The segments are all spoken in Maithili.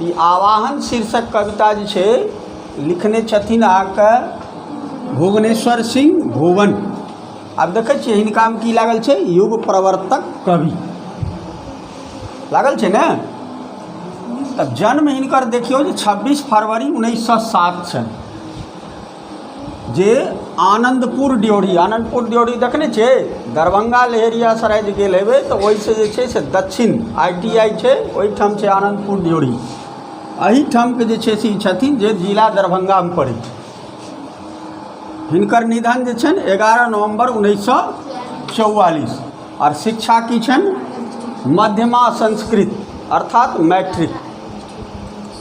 ई आवाहन शीर्षक कविता जे छै लिखने छथिन अहाँके भुवनेश्वर सिंह भुवन आब देखै छियै हिनकामे की लागल छै युग प्रवर्तक कवि लागल छै ने तब जन्म हिनकर देखियौ जे छब्बीस फरवरी उन्नैस सए सात छनि जे आनन्दपुर ड्योढ़ी आनन्दपुर ड्योढ़ी देखने छियै दरभंगा लहेरियासराय जे गेल हेबै तऽ ओहिसँ जे छै से दक्षिण आइ टी आइ छै ओहिठाम छै आनन्दपुर ड्योढ़ी एहिठामके जे छै से ई छथिन जे जिला दरभंगामे पड़ै छै हिनकर निधन जे छनि एगारह नवम्बर उन्नैस सए चौवालीस आर शिक्षा की छनि मध्यमा संस्कृत अर्थात मैट्रिक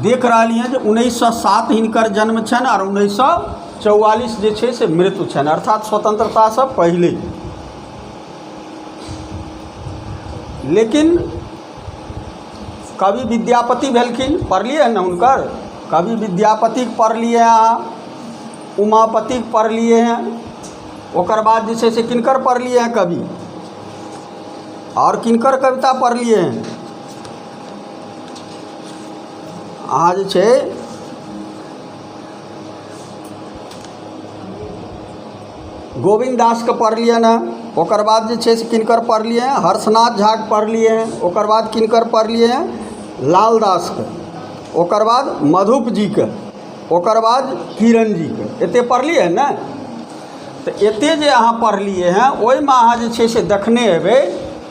देख रहलियै जे उन्नैस सए सात हिनकर जन्म छनि आओर उन्नैस सए चौआलिस जे छै से मृत्यु छनि अर्थात स्वतन्त्रतासँ पहिले लेकिन कवि विद्यापति भेलखिन पढ़लियै ने हुनकर कवि विद्यापतिक पढ़लियै अहाँ उमापतिक पढ़लियै हैं ओकर बाद जे छै से किनकर पढ़लियै हैं कवि आओर किनकर कविता पढ़लियै हैं अहाँ जे छै गोविन्द दासके पढ़लियनि हेँ ओकर बाद जे छै से किनकर पढ़लियै हेँ हर्षनाथ झाके पढ़लियै हेँ ओकर बाद किनकर पढ़लियै हेँ लाल दासके ओकर बाद मधुप जीके ओकर बाद किरण जीके एतेक पढ़लियै हेँ ने तऽ एतेक जे अहाँ पढ़लियै हेँ ओहिमे अहाँ जे छै से देखने हेबै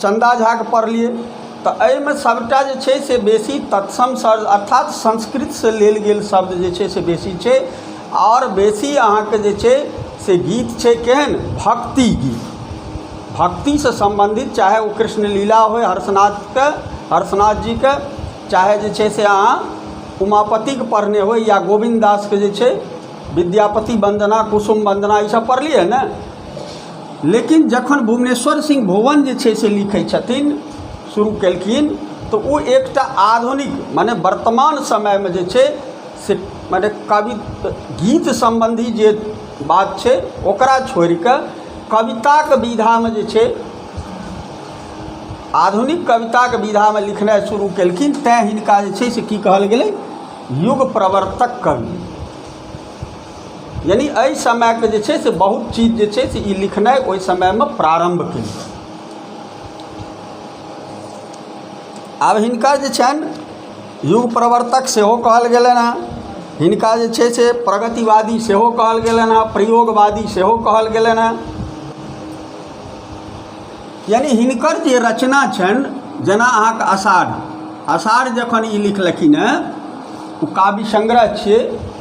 चन्दा झाके पढ़लियै तऽ एहिमे सभटा जे छै से बेसी तत्सम सर अर्थात संस्कृतसँ लेल गेल शब्द जे छै से बेसी छै आओर बेसी अहाँके जे छै से गीत छै केहन भक्ति गीत भक्तिसँ सम्बन्धित चाहे ओ कृष्ण लीला होइ हर्षनाथके हर्षनाथ जीके चाहे जे छै से अहाँ उमापतिके पढ़ने होइ या गोविन्द दासके जे छै विद्यापति वन्दना कुसुम वन्दना ई सभ पढ़लियै ने लेकिन जखन भुवनेश्वर सिंह भुवन जे छै से लिखै छथिन शुरू केलखिन तऽ ओ एकटा आधुनिक मने वर्तमान समयमे जे छै से मने कवि गीत सम्बन्धी जे बात छै ओकरा छोड़ि कऽ कविताके विधामे जे छै आधुनिक कविताके विधामे लिखनाइ शुरू केलखिन तैँ हिनका जे छै से की कहल गेलै युग प्रवर्तक कवि यानि एहि समयके जे छै से बहुत चीज जे छै से ई लिखनाइ ओहि समयमे प्रारम्भ केलखिन आब हिनका जे छनि युग प्रवर्तक सेहो कहल गेलनि हेँ हिनका जे छै से प्रगतिवादी सेहो कहल गेलनि हेँ प्रयोगवादी सेहो कहल गेलनि हेँ यानि हिनकर जे रचना छनि जेना अहाँके अषाढ़ अषाढ़ जखन ई लिखलखिन हेँ ओ काव्य संग्रह छियै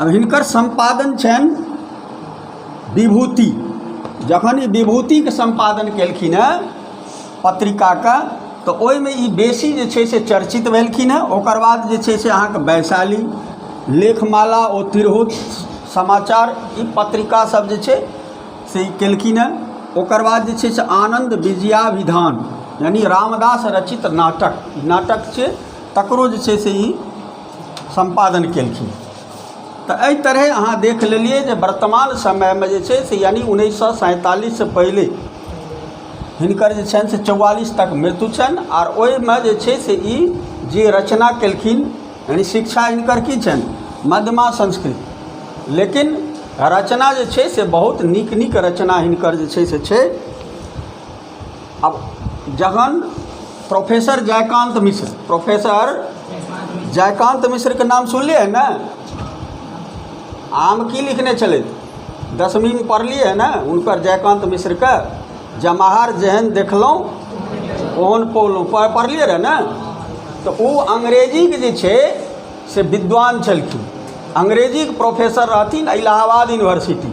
आब हिनकर सम्पादन छनि विभूति जखन ई विभूतिके सम्पादन केलखिन हेँ पत्रिकाके तऽ ओहिमे ई बेसी जे छै से चर्चित भेलखिन हेँ ओकर बाद जे छै से अहाँके वैशाली लेखमाला ओ तिरहुत समाचार ई पत्रिकासभ जे छै से ई केलखिन हेँ ओकर बाद जे छै से आनन्द विजयाभिधान यानि रामदास रचित नाटक नाटक छै तकरो जे छै से ई सम्पादन केलखिन तऽ एहि तरहे अहाँ देख लेलियै जे वर्तमान समयमे जे छै से यानि उन्नैस सए सैंतालिससँ पहिले हिनकर जे छनि से चौआलिस तक मृत्यु छनि आर ओहिमे जे छै से ई जे रचना केलखिन यानि शिक्षा हिनकर की छनि मध्यमा संस्कृत लेकिन रचना जे छै से बहुत नीक नीक रचना हिनकर जे छै से छै आब जहन प्रोफेसर जयकान्त मिश्र प्रोफेसर जयकान्त मिश्रके नाम सुनलियै हँ ने आम की लिखने छलथि दसमीमे पढ़लियै हँ ने हुनकर जयकान्त मिश्रके जमाहर जेहन देखलहुँ ओहन पौलहुँ पढ़लियै रहए ने तऽ ओ अंग्रेजीके जे छै से विद्वान छलखिन अंग्रेजीके प्रोफेसर रहथिन इलाहाबाद यूनिवर्सिटी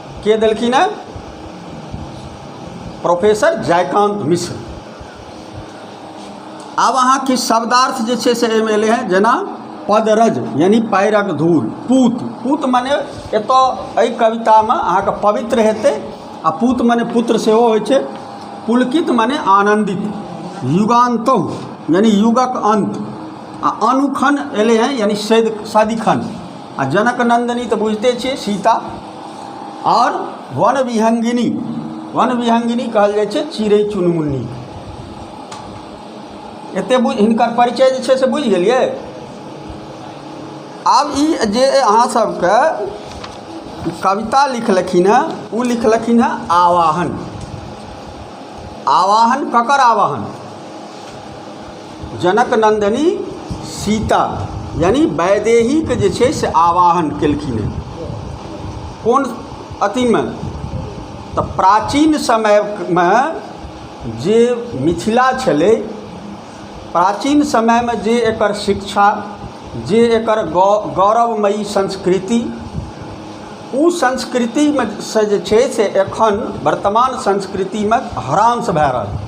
के देलखिन हेँ प्रोफेसर जयकान्त मिश्र आब अहाँ किछु शब्दार्थ जे छै से एहिमे एलै हेँ जेना पदरज यानी पैरक धूल पूत पूत मने एतय एहि कवितामे अहाँके पवित्र हेतै आ पूत मने पुत्र सेहो होइ छै पुलकित मने आनन्दित युगान्त यानी युगक अन्त आ अनुखन एलै हेँ यानी सदिखन आ जनक नंदिनी तऽ बुझिते छियै सीता आओर वन विहंगिनी वन विहंगिनी कहल जाइ छै चिड़ै चुनमुन्नी एते बुझ हिनकर परिचय जे छै से बुझि गेलियै आब ई जे अहाँ सबके कविता लिखलखिन हँ ओ लिखलखिन हँ आवाहन आवाहन ककर आवाहन जनकनन्दनी सीता यानी वैदेहीके जे छै से आवाहन केलखिन हेँ कोन अथीमे तऽ प्राचीन समयमे जे मिथिला छलै प्राचीन समयमे जे एकर शिक्षा जे एकर गौ गौरवमयी संस्कृति ओ संस्कृतिमे सँ जे छै से एखन वर्तमान संस्कृतिमे ह्रास भए रहल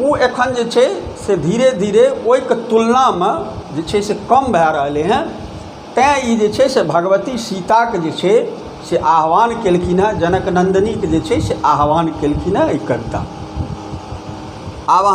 ओ एखन जे छै से धीरे धीरे ओहिके तुलनामे जे छै से कम भए रहलै हेँ तैँ ई जे छै से भगवती सीताके जे छै से आह्वान केलखिन हेँ जनक नन्दिनीके जे छै से आह्वान केलखिन हेँ एहि कवितामे आब अहाँ